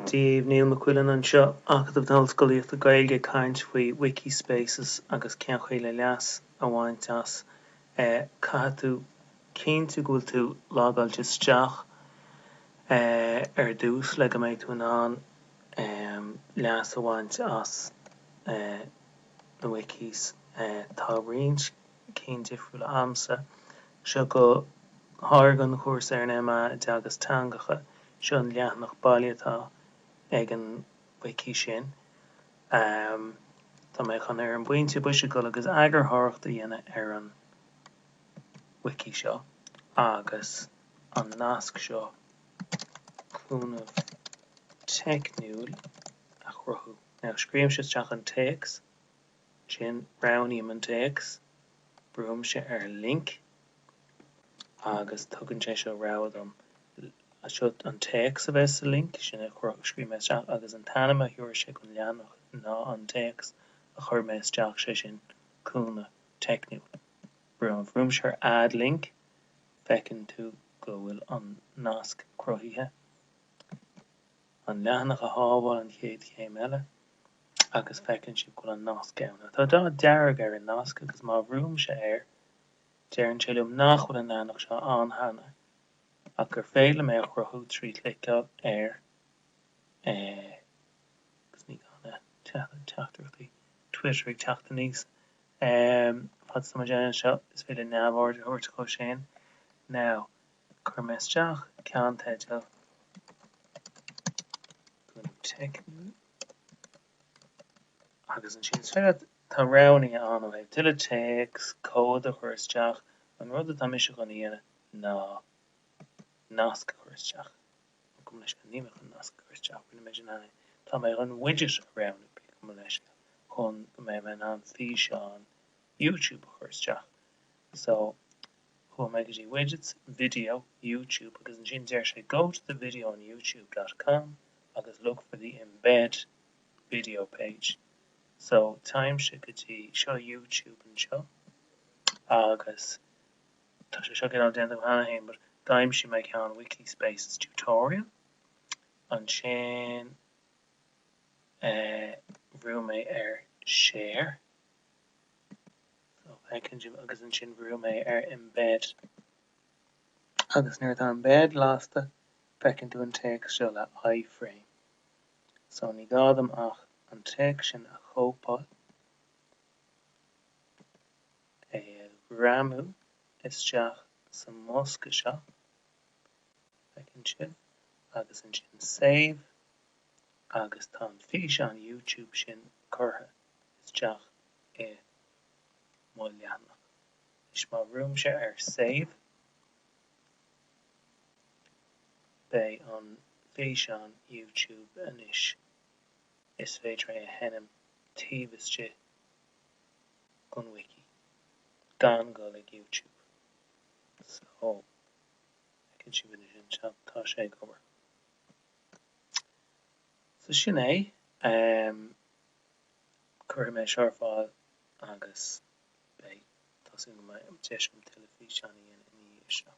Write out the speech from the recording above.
Dia dhaoibh, Niall Mac Uidhilin anseo, Acadamh na hOllscolaíochta Gaeilge ag caint faoi Wikispaces agus cén chaoi le leas a bhaint as Caithfidh tú cinntiú go bhfuil tú logáilte isteach ar dtús le go mbeidh tú in ann leas a bhaint as na wikis Tá roinnt cinn difriúla agamsa. Seo go háirithe don chúrsa ar an MA i dTeagasc Teangacha. Seo an leathanach baile atá ag an wiki sin. Tá mé chun, ar an bpointe boise, dul agus eagarthóireacht a dhéanamh ar an wiki seo agus an nasc seo, cúnamh teicniúil, a chruthú. Now, scríobhaimse isteach an téacs. Ansin roghnaím an téacs, brúimse ar Link agus tugann sé seo rogha dom. Seo an téacs a bheidh sa link, sin a scríobh mé isteach, agus an t-ainm a thiúrfaidh sé don leathanach ná an téacs a chuir mé isteach, sé sin, cúnamh teicniúil. Brúimse ar Add Link, feiceann tú go bhfuil an nasc cruthaithe. an leathanach a shábháil an chéad chéim eile agus feiceann sibh go bhfuil an nasc ann. Ach tá dath dearg ar an nasc agus má bhrúimse air deireann sé liom nach bhfuil an leathanach seo ann cheana ach gur féidir liom é a chruthú trí chliceáil air agus ní gá na teachtaireachtaí Twitter ag teacht aníos. Fad is atá mé ag déanamh seo is féidir neamhaird a thabhairt dhó sin. Now. Chuir mé isteach ceannteideal cúnamh teicniúil agus ansin is féidir leat tá roghanna ann ó thaobh tuilleadh téacs, comhaid a chur isteach, an rud atá mise chun a dhéanamh ná nasc a chur isteach, gabh mo leithscéal, níl mé chun nasc a chur isteach, rinne mé sin cheana, tá mé chun widget a roghnú, gabh mo leithscéal, chun go mbeidh mé in ann físeán YouTube a chur isteach. So, chuaigh mé go dtí Widgets, Video, YouTube agus ansin deir sé go to the video on youtube dot com agus look for the embed video page. So, téimse go dtí, seo YouTube anseo agus tá sé seo cineál déanta cheana féin but d'aimsigh mé ceann Wikispaces tutorial ansin eh, bhrú mé ar share. agus ansin bhrú mé ar Embed. Agus nuair atá Embed lasta, feiceann tú an téacs seo le iframe. So ní gá dom ach an téacs sin a chóipeáil, é a ghreamú isteach sa mbosca seo, feiceann sibh, agus ansin Save, agus tá an físeán YouTube sin curtha. isteach i mo leathanach. Is má bhrúimse ar Save, beidh an físeán YouTube anois. Is féidir é a sheinm taobh istigh gon wiki, gan dul ag YouTube. So, feiceann sibh anois anseo, tá sé ag obair. So sin é. Cuirfidh mé seo ar fáil agus beidh tá súil agam deis agam teilifís a dhéanamh i ndiaidh seo.